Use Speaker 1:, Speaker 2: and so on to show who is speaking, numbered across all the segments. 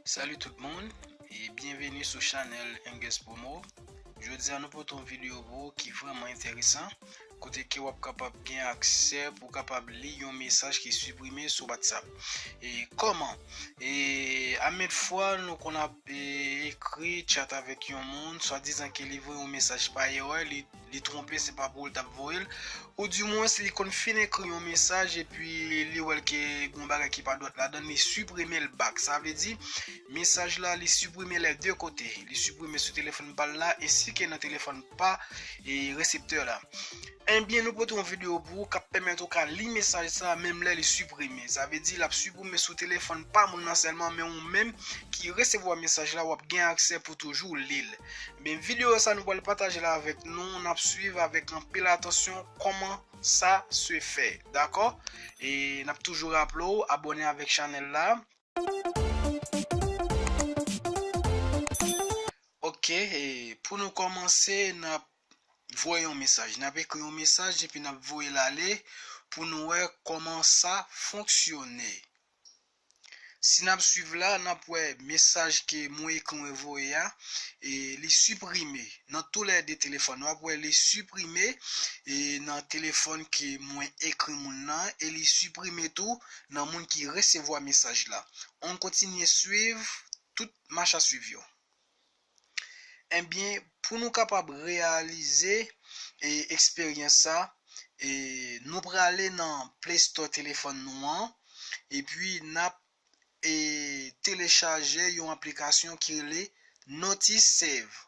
Speaker 1: Salut tout moun e byenveni sou chanèl Engès Promo Jodi a nou pote yon videyo pou ou ki vreman enteresan kote ke wap kapab gen aksè pou w kapab li yon mesaj ki siprime sou WhatsApp e koman e amèd fwa nou kon ap Ekri chat avèk yon moun, swadizan ke li voye yon mesaj pa erè, li twonpe se pa pou ou l t ap voye l, ou di mwens li konn fin ekri yon mesaj epi li wè l ke gen yon bagay ki pa dwat ladan l, li siprime l bak. Sa vle di, mesaj la li siprime lè de kote, li siprime sou telefòn pa l la ensi ke nan telefòn pa reseptè la. Enbyen nou pote yon video pou ou kap pèmèt ou ka li mesaj sa a menm lè li siprime. Sa vle di lap siprime sou telefòn pa moun nan sèlman men ou menm ki resevwa mesaj la wap gen aksè pou toujou li l. Enbyen video sa nou pral pataje la avèk nou nap swiv avèk anpil atansyon kòman sa se fè dakò e nap toujou raple w abòne avèk chanèl la. Ok pou nou kòmanse nap voye yon mesaj. N ap ekri yon mesaj epi n ap voye l ale pou nou wè kòman sa fonksyone. Si n ap suiv la, n ap wè mesaj ke mwen ekri mwen voye a, li siprime nan tou lè 2 telefòn. W ap wè li siprime nan telefòn ke mwen ekri moun nan e li siprime tou nan moun ki resevwa mesaj la. An kontinye suiv tout machasuiv yo. Enbyen, pou nou kapab reyalize eksperyans sa, nou prale nan Play Store telefòn nou an, epi nap telechaje yon aplikasyon ki rele Notice Save.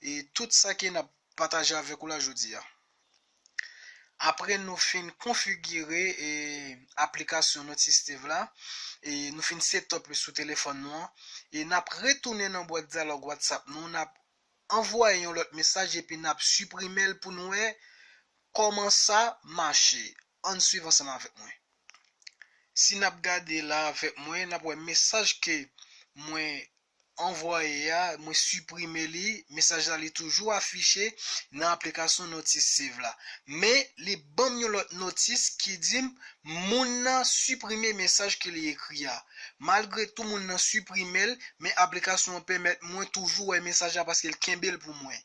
Speaker 1: E tout sa ke nap pataje avèk ou la jodi a. Apre nou fin konfigire e aplikasyon Noticetive la e nou fin setup li sou telefòn nou an e nap retounen nan bwat dyalòg WhatsApp nou nap anvwaye yon lòt mesaj epi nap suprimel pou nou wè kòman sa mache ann swiv ansanm avèk mwen si nap gade la avèk mwen nap wè mesaj ke mwen anvwaye a, mwen siprime li, mesaj la li toujou afiche nan aplikasyon Notice Save la. Men, li ban m yon lòt notis ki di m moun nan siprime mesaj ke li ekri a. Malgre tou moun nan siprime l, men aplikasyon an pèmèt mwen toujou wè mesaj la paske l kenbe l pou mwen.